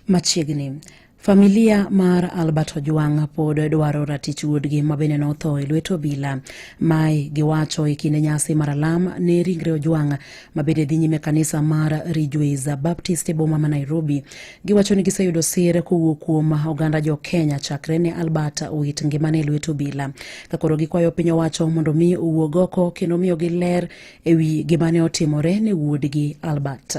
Machiegni Familia mar Albert Ojwang pod dwaro ratich wuodgi ma bende notho e lwet obila. Mae giwacho e kinde nyasi mar alam ne ringre Ojwang ma bende dhi nyime kanisa mar Ridgeways Baptist e boma ma Nairobi. Giwacho ni giseyudo sir kowuok kuom oganda jo Kenya chakre ne Albert owit ngimane e lwet obila. Ka koro gikwayo piny owacho mondo mi owuog oko kendo miyogi ler ewi gimane otimore ne wuodgi Albert.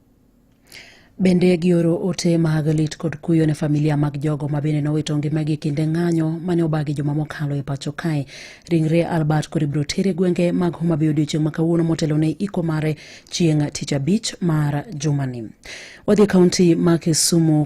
Bende gioro ote mag lit kod kuyo ne familia mag jogo ma bende nowito ngimagi kinde ng'anyo mane obagi joma mokalo e pacho kae. Ringre Albert kod ibiro ter e gwenge mag Homa Bay odiochieng' ma kawuono motelo ne iko mare chieng' tich abich mar jumani. Wadhi e kaunti ma Kisumu.